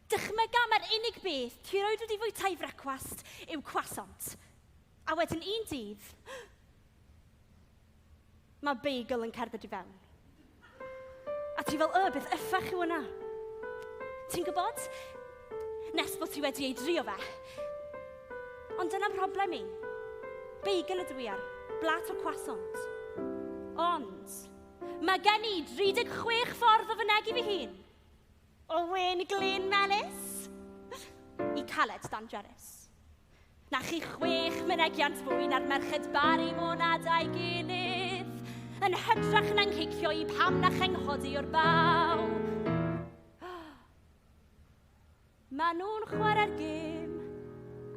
Dychmyga mai'r unig beth ti roed wedi fwyta i frecwast yw croissant. A wedyn un dydd, mae bagel yn cerdded i fewn. A ti fel, y, beth yffach yw hwnna? Ti'n gwybod? Nes bod ti wedi ei drio fe. Ond dyna mhroblem i. Beigel ydw i ar, blat o croissant. Ond, mae gen i 36 ffordd o fynegu fy hun. O wyn glin melys i caled dangerous. Na chi chwech mynegiant fwy na'r merched bar i monad a'i gilydd, yn hytrach na'n cicio i pam na chenghodi o'r baw. Mae nhw'n chwarae'r gêm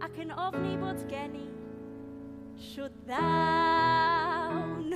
ac yn ofni bod gen i. Shwt ddawn!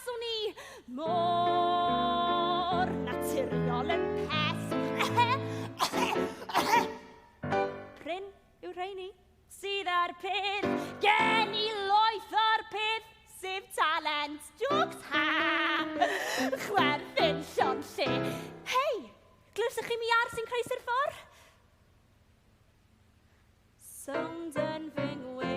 Swn i mor naturiol yn peth. Pryn yw rheini sydd ar peth. Gen i loeth o'r peth, sef talent. Jokes, ha! Chwerthin llon lle. Hei, glywsoch chi mi ar sy'n croesi'r ffordd? Sound yn fy ngwe.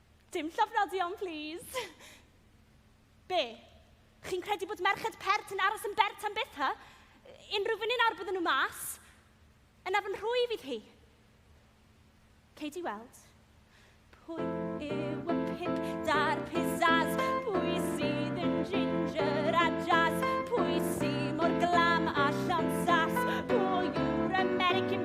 Dim llofnodion, plîs. Be? Chi'n credu bod merched pert yn aros yn bert am byth, ha? Unrhyw funud ar bydden nhw mas. Yna fy nhwy fydd hi. Cei di weld. Pwy yw y pip da'r pizzas? Pwy sydd yn ginger a jazz? Pwy sy'n mor glam a llon sas? Pwy yw'r American